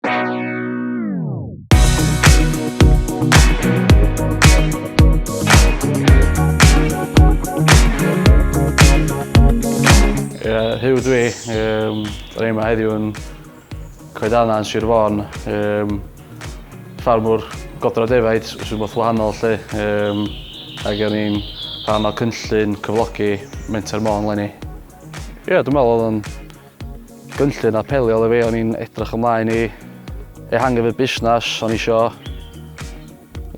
Yeah, Hugh dwi, um, rhaid yma heddiw yn coedana yn Sir Fôn, um, ffarmwr godro defaid sy'n both wahanol lle, um, ac o'n i'n rhan o cynllun cyflogi Menter Môn lenni. Ie, yeah, dwi'n meddwl oedd o'n Cynllun apelio i fi, o'n i'n edrych ymlaen i ehangu fy busnes, o'n i isio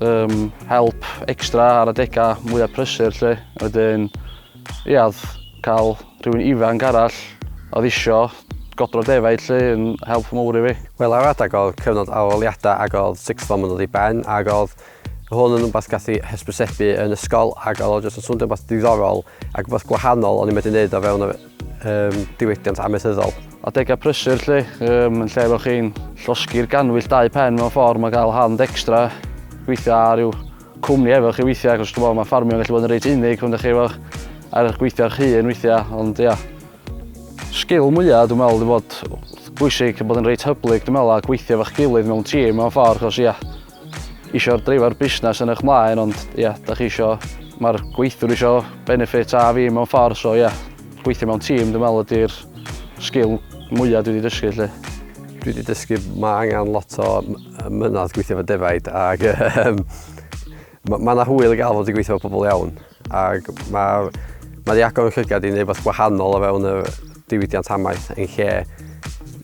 um, help extra ar adegau mwyaf prysur lle. Wedyn, ia, cael rhywun ifanc arall oedd isio godro defaid lle yn help mawr i fi. Wel, ar adeg o'r cyfnod aroliadau ac oedd sixth form yn dod i ben ac oedd hwn yn rhywbeth gallu hysbysebu yn ysgol ac oedd o jyst yn swndio rhywbeth diddorol ac rhywbeth gwahanol o'n i'n medru wneud o fewn yr um, diwydiant amaethyddol. Adegau prysur lle, um, yn lle bod chi'n llosgi'r ganwyll dau pen mewn ffordd, mae cael hand extra, gweithio ar rhyw cwmni efo chi weithiau, achos dwi'n meddwl mae ffarmio yn gallu bod yn reit unig, ond chi efo ar eich gweithio eich hun weithiau, ond ia. Sgil mwyaf, dwi'n meddwl, dwi'n bod bwysig bod yn reit hyblyg, dwi'n meddwl, a gweithio efo'ch gilydd mewn tîm mewn ffordd, achos ia, isio dreifio'r busnes yn eich mlaen ond ie, yeah, da chi isio, mae'r gweithwyr isio benefit a fi mewn ffordd so ie, yeah, gweithio mewn tîm dwi'n meddwl ydy'r sgil mwyaf dwi wedi dysgu lle. Dwi wedi dysgu mae angen lot o mynnodd gweithio fo defaid ac um, mae ma yna hwyl i gael fod i gweithio fo pobl iawn ac mae ma wedi agor yn llygad i wneud beth gwahanol o fewn y diwydiant amaeth yn lle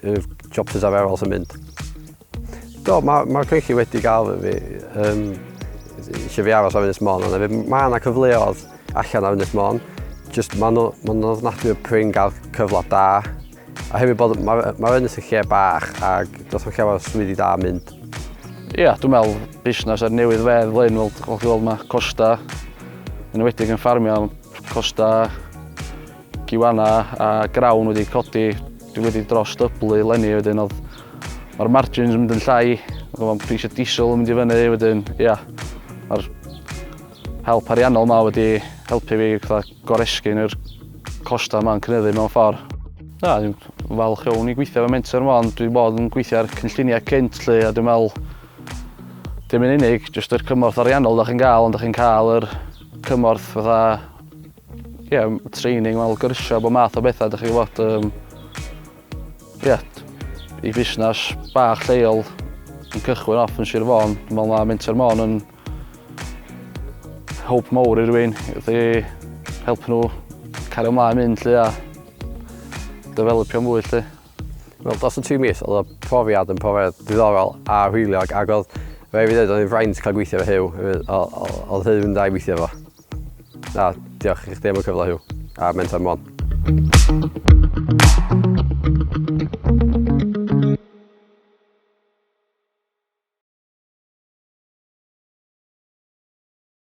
y jobs arferol sy'n mynd. Do, mae, mae Creichi wedi gael fi. Um, eisiau fi aros ar Ynys Mon, ond mae yna cyfleodd allan ar Ynys Mon. Just mae nhw, mae nhw ofnadwy o prin gael cyfle da. A hefyd bod, mae'r ma Ynys yn lle bach ac does o'n lle o'r swyddi da mynd. Ia, yeah, dwi'n meddwl busnes ar newydd fedd lein, fel chi'n gweld mae costa, yn wedi'n yn ffarmio, costa Giwana a Grawn wedi codi, dwi wedi dros dyblu lenni wedyn oedd mae'r margins yn mynd yn llai, mae pris y diesel yn mynd i fyny wedyn, ia, mae'r help ariannol yma wedi helpu fi fatha goresgyn yr costau yma'n cynyddu mewn ffordd. Na, dwi'n falch iawn i gweithio fe mentor yma, ond dwi'n bod yn gweithio ar cynlluniau cynt lle, a dwi'n meddwl dim yn unig, jyst yr cymorth ariannol da chi'n gael, ond da chi'n cael yr cymorth fatha Ie yym training fel gyrsia a bo math o betha dych chi wbod yym ie i fusnas bach lleol yn cychwyn off yn Sir Fôn dwi me'wl ma' Menter Môn yn help mowr i rywun wrth i helpu nhw cario mlaen mynd 'lly a dyfelipio mwy 'lly. Wel dros y tri mis odd y profiad yn profiad diddorol a hwyliog ag odd rhai' fi ddeud odd e'n fraint ca'l gweithio efo Huw odd Huw yn dda i weithio efo. Na, diolch i chdi am y cyfle Huw. A Mentor Mon.